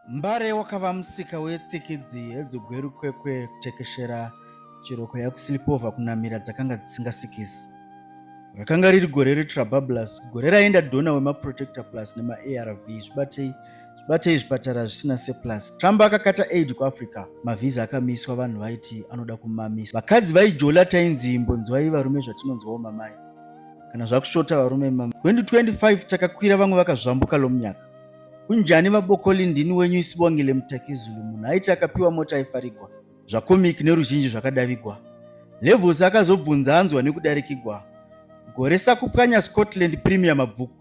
mbare wakava musika wetsikidzi hedzugweru kwekwe kutekeshera chiroko yakusilipova kunamira dzakanga dzisingasikisi rakanga riri gore retrabablus gore raenda dona wemaprotector plus nemaarv zvibatei zvibatei zvipatara zvisina seplus trump akakata aid kuafrica mavhiza akamiswa vanhu vaiti anoda kumamiswa vakadzi vaijola tainzi imbonzwai varume zvatinonzwawo mamai kana zvakushota varume 2025 takakwira vamwe vakazvambuka lomunyaka Kunjani vabokoli ndini wenyu isibongile mutakizulu munhu aiti akapiwa mota aifarigwa zvakomik neruzhinji zvakadavigwa levels akazobvunza anzwa nekudarikigwa gore sakupwanya scotland premier mabvuku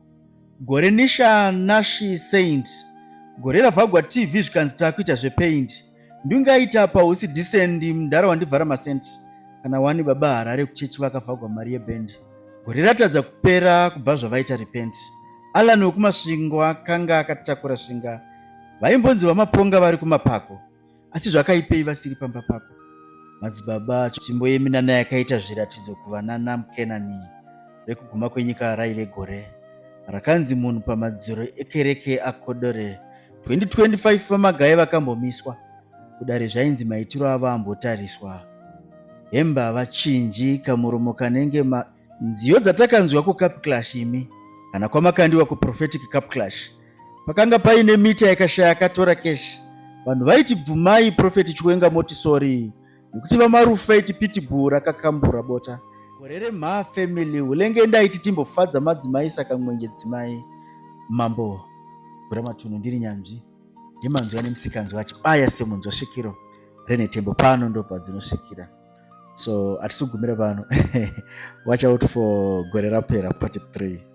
gore nisha nashi saint gore ravhagwa tv zvikanzi taakuita zvepaint ndingaita pausi disendi mdhara wandivhara masenti kana wani baba harare kuchechi vakavhagwa mari yebhendi gore ratadza kupera kubva zvavaita repenti alan wekumasvingo akanga akatakura svinga vaimbonzi vamaponga vari kumapako asi zvakaipei vasiri pamba pako madzibaba tsvimbo yeminana yakaita zviratidzo kuvanana mukenani rekuguma kwenyika raive gore rakanzi munhu pamadziro ekereke akodore 2025 VaMagaye vakambomiswa kudare zvainzi maitiro avo ambotariswa. Hembe havachinji kamuromo kanenge ma nziyo dzatakanzwa kuCap Clash imi kana kwamakandiwa kuProphetic Cap Clash pakanga paine mita yakashaya akatora cash vanhu vaiti bvumai Prophet Chiwenga moti sorry nekuti vamarufa iti pitbull rakakambura bota gore remhaa family ulenge ndaiti timbofadza madzimai saka mwenje dzimai mambo guramatunhu ndiri nyanzvi yemanzwa nemusikanzwa achibaya semunzwa svikiro renetembo pano ndopa dzinosvikira so hatisugumira pano watch out for gore rapera part 3